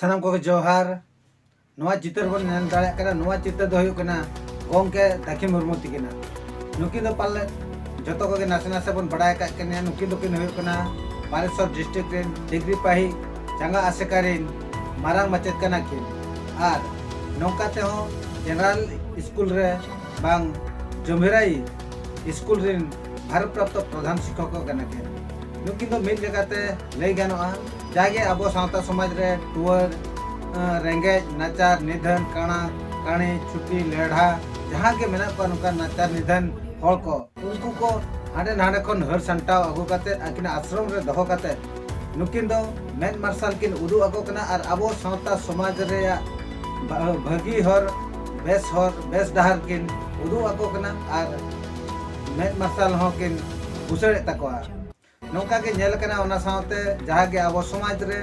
ᱥᱟᱱᱟᱢ ᱠᱚᱜᱮ ᱡᱚᱦᱟᱨ ᱱᱚᱣᱟ ᱪᱤᱛᱟᱹᱨ ᱵᱚᱱ ᱧᱮᱞ ᱫᱟᱲᱮᱭᱟᱜ ᱠᱟᱱᱟ ᱱᱚᱣᱟ ᱪᱤᱛᱟᱹᱨ ᱫᱚ ᱦᱩᱭᱩᱜ ᱠᱟᱱᱟ ᱜᱚᱢᱠᱮ ᱫᱟᱹᱠᱷᱤ ᱢᱩᱨᱢᱩ ᱛᱤᱠᱤᱱᱟ ᱱᱩᱠᱤᱱ ᱫᱚ ᱯᱟᱞᱮ ᱡᱚᱛᱚ ᱠᱚᱜᱮ ᱱᱟᱥᱮ ᱱᱟᱥᱮ ᱵᱚᱱ ᱵᱟᱲᱟᱭ ᱟᱠᱟᱫ ᱠᱤᱱᱟ ᱱᱩᱠᱤᱱ ᱫᱚᱠᱤᱱ ᱦᱩᱭᱩᱜ ᱠᱟᱱᱟ ᱵᱟᱞᱮᱥᱚᱨ ᱰᱤᱥᱴᱨᱤᱠᱴ ᱨᱮᱱ ᱰᱤᱜᱽᱨᱤ ᱯᱟᱹᱦᱤ ᱪᱟᱸᱜᱟ ᱟᱥᱮᱠᱟ ᱨᱤᱱ ᱢᱟᱨᱟᱝ ᱢᱟᱪᱮᱛ ᱠᱟᱱᱟ ᱠᱤᱱ ᱟᱨ ᱱᱚᱝᱠᱟ ᱛᱮᱦᱚᱸ ᱡᱮᱱᱟᱨᱮᱞ ᱥᱠᱩᱞ ᱨᱮ ᱵᱟᱝ ᱡᱚᱢᱵᱷᱤᱨᱟᱭ ᱥᱠᱩᱞ ᱨᱤᱱ ᱵᱷᱟᱨᱚᱛ ᱯᱨᱟᱯᱛᱚ ᱯᱨᱚᱫᱷᱟᱱ ᱥᱤᱠᱷᱚᱠ ᱠᱟᱱᱟ ᱠᱤᱱ ᱱᱩᱠᱤᱱ ᱫᱚ ᱢᱤᱫ ᱞᱮᱠᱟᱛᱮ ᱞᱟᱹᱭ ᱜᱟᱱᱚᱜᱼᱟ ᱡᱟᱜᱮ ᱟᱵᱚ ᱥᱟᱶᱛᱟ ᱥᱚᱢᱟᱡᱽ ᱨᱮ ᱴᱩᱣᱟᱹᱨ ᱨᱮᱸᱜᱮᱡ ᱱᱟᱪᱟᱨ ᱱᱤᱫᱷᱟᱹᱱ ᱠᱟᱬᱟ ᱠᱟᱹᱬᱤ ᱪᱷᱩᱴᱤ ᱞᱮᱲᱦᱟ ᱡᱟᱦᱟᱸ ᱜᱮ ᱢᱮᱱᱟᱜ ᱠᱚᱣᱟ ᱱᱚᱝᱠᱟᱱ ᱱᱟᱪᱟᱨ ᱱᱤᱫᱷᱟᱹᱱ ᱦᱚᱲ ᱠᱚ ᱩᱱᱠᱩ ᱠᱚ ᱦᱟᱸᱰᱮ ᱱᱟᱸᱰᱮ ᱠᱷᱚᱱ ᱦᱟᱹᱨ ᱥᱟᱢᱴᱟᱣ ᱟᱹᱜᱩ ᱠᱟᱛᱮ ᱟᱹᱠᱤᱱᱟᱜ ᱟᱥᱨᱚᱢ ᱨᱮ ᱫᱚᱦᱚ ᱠᱟᱛᱮ ᱱᱩᱠᱤᱱ ᱫᱚ ᱢᱮᱫ ᱢᱟᱨᱥᱟᱞ ᱠᱤᱱ ᱩᱫᱩᱜ ᱟᱠᱚ ᱠᱟᱱᱟ ᱟᱨ ᱟᱵᱚ ᱥᱟᱶᱛᱟ ᱥᱚᱢᱟᱡᱽ ᱨᱮᱭᱟᱜ ᱵᱷᱟᱹᱜᱤ ᱦᱚᱨ ᱵᱮᱥ ᱦᱚᱨ ᱵᱮᱥ ᱰᱟᱦᱟᱨ ᱠᱤᱱ ᱩᱫᱩᱜ ᱟᱠᱚ ᱠᱟᱱᱟ ᱟᱨ ᱢᱮᱫ ᱢᱟᱨᱥᱟᱞ ᱦᱚᱸ ᱠᱤᱱ ᱵᱩᱥᱟᱹᱲᱮᱫ ᱛᱟᱠᱚᱣᱟ ᱱᱚᱝᱠᱟ ᱜᱮ ᱧᱮᱞ ᱠᱟᱱᱟ ᱚᱱᱟ ᱥᱟᱶᱛᱮ ᱡᱟᱦᱟᱸ ᱜᱮ ᱟᱵᱚ ᱥᱚᱢᱟᱡᱽ ᱨᱮ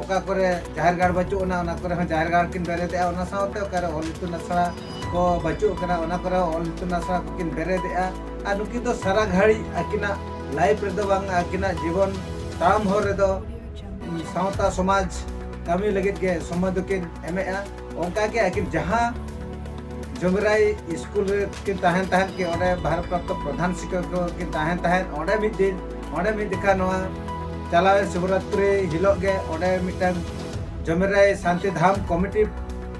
ᱚᱠᱟ ᱠᱚᱨᱮ ᱡᱟᱦᱮᱨ ᱜᱟᱲ ᱵᱟᱹᱪᱩᱜ ᱟᱱᱟ ᱚᱱᱟ ᱠᱚᱨᱮ ᱦᱚᱸ ᱡᱟᱦᱮᱨ ᱜᱟᱲ ᱠᱤᱱ ᱵᱮᱨᱮᱫᱮᱜᱼᱟ ᱚᱱᱟ ᱥᱟᱶᱛᱮ ᱚᱠᱟᱨᱮ ᱚᱞ ᱤᱛᱩᱱ ᱟᱥᱲᱟ ᱠᱚ ᱵᱟᱹᱪᱩᱜ ᱠᱟᱱᱟ ᱚᱱᱟ ᱠᱚᱨᱮ ᱦᱚᱸ ᱚᱞ ᱤᱛᱩᱱ ᱟᱥᱲᱟ ᱠᱚ ᱠᱤᱱ ᱵᱮᱨᱮᱫᱮᱜᱼᱟ ᱟᱨ ᱱᱩᱠᱤᱱ ᱫᱚ ᱥᱟᱨᱟ ᱜᱷᱟᱹᱲᱤᱡ ᱟᱹᱠᱤᱱᱟᱜ ᱞᱟᱭᱤᱯᱷ ᱨᱮᱫᱚ ᱵᱟᱝ ᱟᱹᱠᱤᱱᱟᱜ ᱡᱤᱵᱚᱱ ᱛᱟᱲᱟᱢ ᱦᱚᱨ ᱨᱮᱫᱚ ᱥᱟᱶᱛᱟ ᱥᱚᱢᱟᱡᱽ ᱠᱟᱹᱢᱤ ᱞᱟᱹᱜᱤᱫ ᱜᱮ ᱥᱚᱢᱚᱭ ᱫᱚᱠᱤᱱ ᱮᱢᱮᱜᱼᱟ ᱚᱱᱠᱟ ᱜᱮ ᱟᱹᱠᱤᱱ ᱡᱟᱦᱟᱸ ᱡᱚᱢᱤᱨᱟᱭ ᱥᱠᱩᱞ ᱨᱮ ᱠᱤᱱ ᱛᱟᱦᱮᱱ ᱛᱟᱦᱮᱸᱫ ᱠᱤᱱ ᱚᱸᱰᱮ ᱵᱷᱟᱨᱚᱛ ᱯᱨᱟᱯᱛᱚ ᱯᱨᱚᱫᱷᱟᱱ ᱥᱤᱠᱠᱷᱚᱠ ᱠᱚ ᱠᱤᱱ ᱛᱟᱦᱮᱱ ᱛᱟᱦᱮᱸᱫ ᱚᱸᱰᱮ ᱢᱤᱫ ᱫᱤᱱ ᱚᱸᱰᱮ ᱢᱤᱫ ᱡᱚᱠᱷᱟ ᱱᱚᱣᱟ ᱪᱟᱞᱟᱣᱮᱱ ᱥᱤᱵᱚᱨᱟᱛᱨᱤ ᱦᱤᱞᱳᱜ ᱜᱮ ᱚᱸᱰᱮ ᱢᱤᱫᱴᱟᱝ ᱡᱚᱢᱤᱨᱟᱭ ᱥᱟᱱᱛᱤ ᱫᱷᱟᱢ ᱠᱚᱢᱤᱴᱤ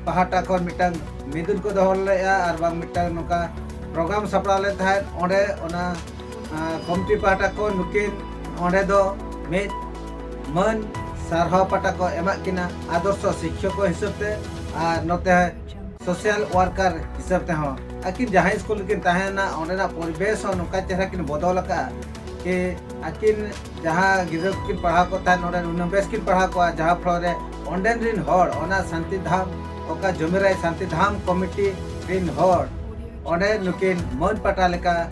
ᱯᱟᱦᱴᱟ ᱠᱷᱚᱱ ᱢᱤᱫᱴᱟᱝ ᱢᱤᱫᱩᱱ ᱠᱚ ᱫᱚᱦᱚ ᱞᱮᱫᱼᱟ ᱟᱨ ᱵᱟᱝ ᱢᱤᱫᱴᱟᱝ ᱱᱚᱝᱠᱟ ᱯᱨᱳᱜᱨᱟᱢ ᱥᱟᱯᱲᱟᱣ ᱞᱮᱫ ᱛᱟᱦᱮᱸᱫ ᱚᱸᱰᱮ ᱚᱱᱟ ᱠᱚᱢᱤᱴᱤ ᱯᱟᱦᱴᱟ ᱠᱷᱚᱱ ᱱᱩᱠᱤᱱ ᱚᱸᱰᱮ ᱫᱚ ᱢᱤᱫ ᱢᱟᱹᱱ ᱥᱟᱨᱦᱟᱣ ᱯᱟᱦᱴᱟ ᱠᱚ ᱮᱢᱟᱜ ᱠᱤᱱᱟ ᱟᱫᱚᱨᱥᱚ ᱥᱤᱠᱠᱷᱚᱠ ᱦᱤᱥᱟᱹᱵ ᱛᱮ ᱟᱨ ᱱᱚᱛᱮ ᱥᱳᱥᱟᱞ ᱣᱟᱨᱠᱟᱨ ᱦᱤᱥᱟᱹᱵ ᱛᱮᱦᱚᱸ ᱟᱹᱠᱤᱱ ᱡᱟᱦᱟᱸ ᱥᱠᱩᱞ ᱨᱮᱠᱤᱱ ᱛᱟᱦᱮᱱᱟ ᱚᱸᱰᱮᱱᱟᱜ ᱯᱚᱨᱤᱵᱮᱥ ᱦᱚᱸ ᱱᱚᱝᱠᱟ ᱪᱮᱦᱨᱟ ᱠᱤᱱ ᱵᱚᱫᱚᱞ ᱟᱠᱟᱫᱼᱟ ᱠᱤ ᱟᱹᱠᱤᱱ ᱡᱟᱦᱟᱸ ᱜᱤᱫᱽᱨᱟᱹ ᱠᱚᱠᱤᱱ ᱯᱟᱲᱦᱟᱣ ᱠᱚ ᱛᱟᱦᱮᱸᱫ ᱱᱚᱰᱮ ᱱᱩᱱᱟᱹᱜ ᱵᱮᱥ ᱠᱤᱱ ᱯᱟᱲᱦᱟᱣ ᱠᱚᱣᱟ ᱡᱟᱦᱟᱸ ᱯᱷᱞᱳ ᱨᱮ ᱚᱸᱰᱮᱱ ᱨᱤᱱ ᱦᱚᱲ ᱚᱱᱟ ᱥᱟᱱᱛᱤ ᱫᱷᱟᱢ ᱚᱠᱟ ᱡᱚᱢᱤᱨᱟᱭ ᱥᱟᱱᱛᱤ ᱫᱷᱟᱢ ᱠᱚᱢᱤᱴᱤ ᱨᱤᱱ ᱦᱚᱲ ᱚᱸᱰᱮ ᱱᱩᱠᱤᱱ ᱢᱟᱹᱱ ᱯᱟᱴᱟ ᱞᱮᱠᱟ